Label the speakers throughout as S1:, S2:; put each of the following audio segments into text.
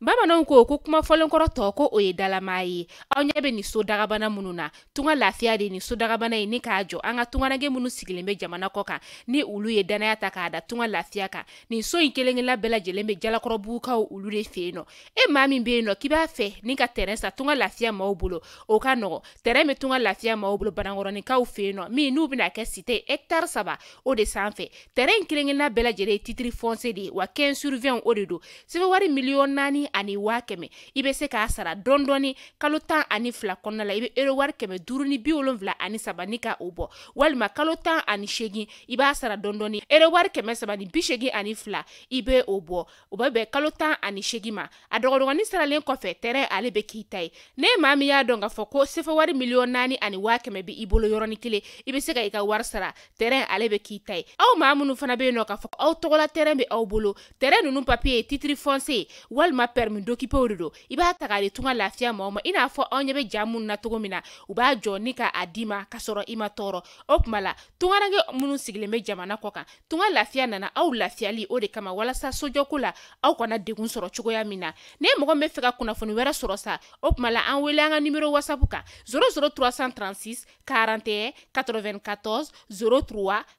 S1: bamananw ko ko kuma fɔlen kɔrɔ tɔgɔ o ye dalamaa ye aw ɲɛ bɛ nin so dagabana minnu na tunga lafiya de ye nin so dagabana ye ni k'a jɔ an ka tungarange minnu sigilen bɛ jamana kɔ kan ni olu ye dannaya ta k'a da tunga lafiya kan nin so in kelen-kelenna bɛɛ lajɛlen bɛ jalakɔrɔbugukaw olu de fɛ yen nɔ e maa min bɛ yen nɔ k'i b'a fɛ ni ka tɛrɛn san tunga lafiya maaw bolo o ka nɔgɔ tɛrɛn bɛ tunga lafiya maaw bolo banankɔrɔninkaw fɛ yen nɔ min n'u bɛna kɛ site hɛkitari saba o de sanfɛ tɛrɛn in kelen-kelenna bɛɛ lajɛlen ye titiri fɔnse de ye wa 15 sur 20 o de don sefa wari miliyɔn naani ani waa kɛmɛ i bɛ se k'a sara dɔɔni dɔɔni kalo tan ani fila kɔnɔna la i bɛ euro wari kɛmɛ duuru ni bi wolonwula ani saba ni ka o bɔ walima kalo tan ani seegin i b'a sara dɔɔni dɔɔni euro wari kɛmɛ saba ni bi seegin ani fila i bɛ o bɔ o bɛ bɛn kalo tan ani seegin ma a dɔgɔdɔgɔnin saralen kɔfɛ tɛrɛn ale bɛ k'i ta ye n'e maa min y'a dɔn k'a fɔ ko sefa wari miliyɔn naani ani waa kɛmɛ bɛ i bolo yɔrɔnin kelen i bɛ se ka i ka wari sara tɛrɛn ale bɛ k'i ta ye aw maa minnu fana bɛ yen nɔ k'a fɔ aw tɔgɔ la tɛrɛn bɛ aw bolo tɛrɛn ninnu papiye titiri fɔnse walima pɛrɛmi dokipew de don i b'a ta k'a di tunga lafiya maaw ma i n'a fɔ aw ɲɛ bɛ ja minnu na cogo min na u b'a jɔ ni ka a di i ma ka sɔrɔ i ma tɔɔrɔ o tuma la tungarange minnu sigilen bɛ jamana kɔ kan tunga lafiya nana aw lafiyali o de kama walasa sojɔko la aw kana degun sɔrɔ cogoya min na ni mɔgɔ b'a fɛ ka kunnafoni wɛrɛ sɔrɔ sa o tuma la an wele an ka nimero wasapu kan 00 336 41 94 03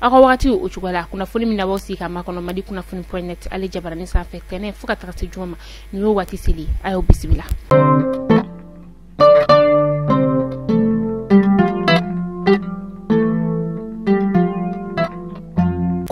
S1: aw ka wagati o cogo la kunnafoni min n'aw b'aw sigi k'a makɔnɔ mali kunnafoni point net ale jabarani sanfɛ tɛnɛn fo ka taga se juma ma nin y'o waati selen ye aw bisimila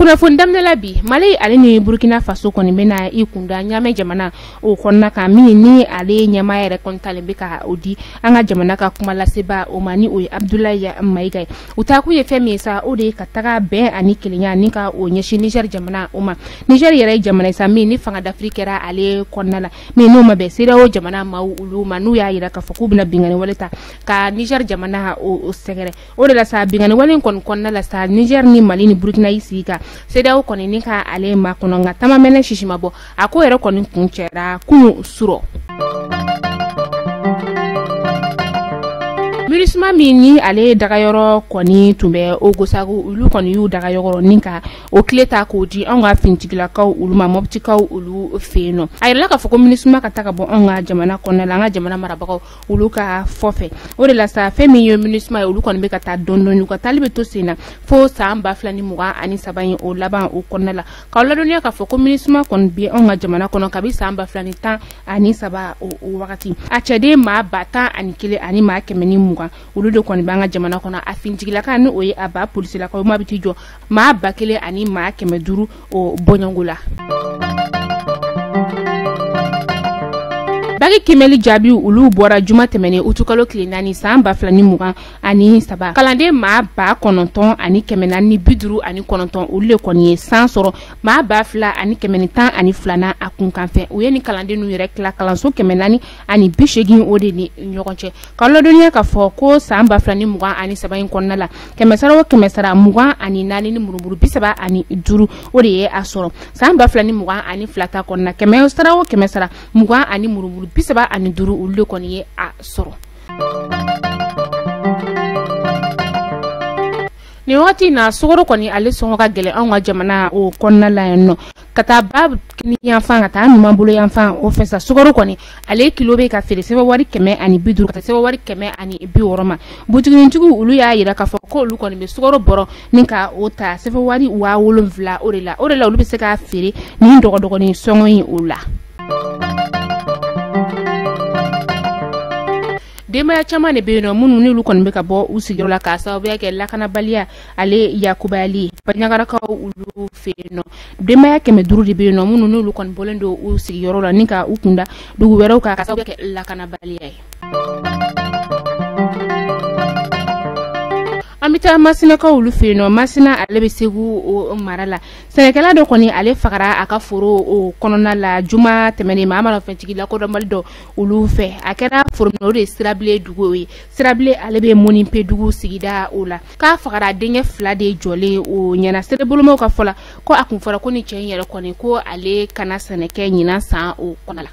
S1: kunnafoni daminɛla bi mali ale ni burkina faso kɔni bɛna i kun da ɲamɛ jamana o kɔnɔna kan min ni ale ɲɛmaa yɛrɛ kɔni talen bɛ ka o di an ka jamana ka kumalasebaa o ma ni o ye abdulayi mayiga ye u taa kun ye fɛn min ye sa o de ye ka taga bɛn ani kelenya ni ka o ɲɛsin niger jamana o ma niger yɛrɛ ye jamana ye sa min ni fanga dafiri kɛra ale kɔnɔna la min n'o ma bɛn sedeyawo jamana maaw olu ma n'u y'a yira k'a fɔ k'u bɛna bingani wale ta ka niger jamana o sɛgɛrɛ o de la sa bingani wale in kɔni kɔnɔna la sa niger ni mali ni burkina y'i sigi ka sedeyawo kɔni ni ka ale makɔnɔ nka ta ma mɛnɛ sisi ma bɔ a ko yɛrɛ kɔni kuncɛra kunun surɔ minisuma min ni ale dagayɔrɔ kɔni tun bɛ ogosago olu kɔni y'u dagayɔrɔ ni ka o kile ta k'o di anw ka finitigilakaw olu ma mɔbitikaw olu fɛ yen nɔ a yirala k'a fɔ ko minisuma ka taa ka bɔ anw ka jamana kɔnɔna la an ka jamana marabagaw olu ka fɔ fɛ o de la sa fɛn min ye minisuma ye olu kɔni bɛ ka taa dɔɔni dɔɔni u ka taali bɛ to sen na fo san ba fila ni mugan ani saba in o laban o kɔnɔna la k'aw ladɔnniya k'a fɔ ko minisuma kɔni bɛ anw ka jamana kɔnɔ kabi san ba fila ni tan ani saba o wagati a cɛden maa ba tan ani kelen ani maa kɛmɛ ni mugan olu de kɔni b'an ka jamana kɔnɔ a finitigilakaw ni o ye a ba polisilakaw maa bɛ t'i jɔ maa ba kelen ani maa kɛmɛ duuru o bɔɲɔngo la baki kiimɛli jaabiw olu bɔra juma tɛmɛnen utukalo tile naani san ba fila ni mugan ani saba kalanden maa ba kɔnɔntɔn ani kɛmɛ naani ni bi duuru ani kɔnɔntɔn olu de kɔni ye san sɔrɔ maa ba fila ani kɛmɛ ni tan ani fila na a kunkan fɛ u ye nin kalanden nu yɛrɛ tila kalanso kɛmɛ naani ani bi segin o de ni ɲɔgɔn cɛ k'a ladɔnniya k'a fɔ ko san ba fila ni mugan ani saba in kɔnɔna la kɛmɛsara o kɛmɛsara mugan ani naani ni murumuru bi saba ani duuru o de ye a sɔrɔ san ba fila ni mugan ani fila ta kɔnɔna kɛmɛsara o kɛmɛsara mugan ani murumuru bi saba ani duuru olu de kɔni ye a sɔrɔ nin wagati in na sukaro kɔni ale sɔngɔ ka gɛlɛn anw ka jamana o kɔnɔna la yan nɔ k'a ta ba kinin yanfan ka taa numan bolo yanfan o fɛ sa sukaro kɔni ale kilo bɛ ka feere sefawari kɛmɛ ani bi duuru ka taa sefawari kɛmɛ ani bi wɔɔrɔ ma butigitigiw olu y'a yira k'a fɔ k'olu kɔni bɛ sukaro bɔrɔ ni ka o ta sefawari waa wolonwula o de la o de la olu bɛ se k'a feere nin dɔgɔdɔgɔnin sɔngɔ in o la denbaya caman de bɛ yen nɔ minnu n'olu kɔni bɛ ka bɔ u sigiyɔrɔ la k'a sababuya kɛ lakanabaliya ale yakubayali ye baɲagarakaw olu fɛ yen nɔ denbaya kɛmɛ duuru de bɛ yen nɔ minnu n'olu kɔni bɔlen don u sigiyɔrɔ la ni ka u kunda dugu wɛrɛw kan k'a sababuya kɛ lakanabaliya ye an bɛ taa masinakaw olu fɛ yen nɔ masina ale bɛ segu o mara la sɛnɛkɛla dɔ kɔni ale fagara a ka foro o kɔnɔna la juma tɛmɛnen maramafɛntigi lakodɔnbali dɔw olu fɛ a kɛra foro min na o de ye sirabile dugu ye sirabile ale bɛ mɔnipe dugu sigida o la k'a fagara denkɛ fila de jɔlen o ɲɛ na serebolomaw ka fɔ la ko a kun fɔra ko nin cɛ in yɛrɛ kɔni ko ale kana sɛnɛ kɛ ɲinan san o kɔnɔ la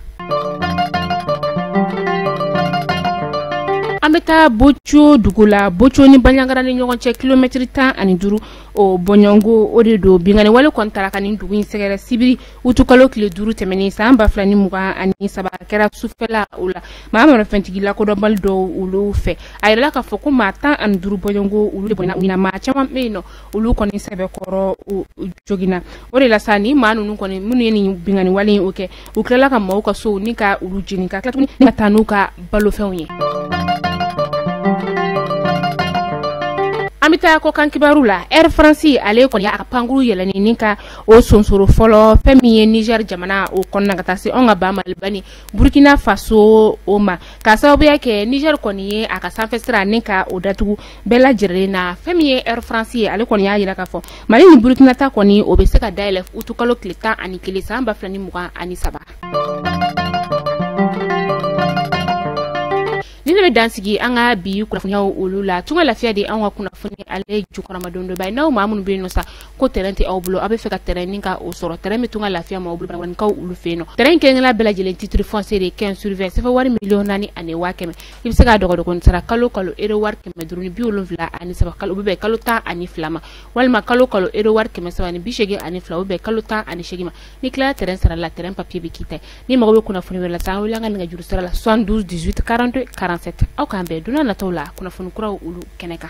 S1: an bɛ taa bojo dugu la bojo ni baɲagara ni ɲɔgɔn cɛ kilomɛtiri tan ani duuru o bɔɲɔngo o de don binkanni wale kɔni taara ka nin dugu in sɛgɛrɛ sibiri utukalo tile duuru tɛmɛnen san ba fila ni mugan ani saba kɛra sufɛla o la maramafɛntigi lakodɔnbali dɔw olu fɛ a yirala k'a fɔ ko maa tan ani duuru bɔɲɔngo olu de bɔnɛna u ni na maa caman bɛ yen nɔ olu kɔni sɛbɛkɔrɔ joginna o de la sa nin maa ninnu kɔni minnu ye nin binkanni wale in o kɛ u tilala ka maaw ka sow ni ka olu jeni ka tila tuguni ka taa n'u ka balofɛnw ye an bɛ taa kɔkan kibaru la air france ale kɔni a ka pankuru yɛlɛnni ni ka o sonsoro fɔlɔ fɛn min ye niger jamana o kɔnɔna ka taa se anw ka ba maliba ni burkina faso o ma k'a sababuya kɛ niger kɔni ye a ka sanfɛ sira ni ka o datugu bɛɛ lajɛlen na fɛn min ye air france ye ale kɔni y'a yira k'a fɔ mali ni burkina ta kɔni o bɛ se ka dayɛlɛ utukalo tile tan ani kelen san ba fila ni mugan ani saba ni ne bɛ dansigi an ka bi kunnafoniyaw olu la tunga lafiya de an ka kunnafoni ale jukɔrɔmadondonba ye n'aw maa minnu bɛ yen nɔ sa ko tɛrɛn tɛ aw bolo aw b'a fɛ ka tɛrɛn nin ka o sɔrɔ tɛrɛn bɛ tunga lafiya maaw bolo bankaw olu fɛ yen nɔ tɛrɛn kelen kelenna bɛɛ lajɛlen titre foncier de quinze sur vingt sefa wari miliyɔn naani ani waa kɛmɛ i bɛ se k'a dɔgɔdɔgɔnin sara kalo kalo euro wari kɛmɛ duuru ni bi wolonwula ani saba kalo bɛ bɛn kalo tan ani fila ma walima kalo kalo euro wari kɛmɛ saba ni bi seegin ani fila o bɛ bɛn kalo tan ani seegin ma n'i tilala tɛrɛn sara la tɛrɛn papiye bɛ k'i ta ye n'i mago bɛ kunnafoni wɛrɛ la sa an wele an ka nɛgɛjuru sira la 72 18 42 47 aw k'an bɛn don nataw la kunnafoni kuraw olu kɛnɛ kan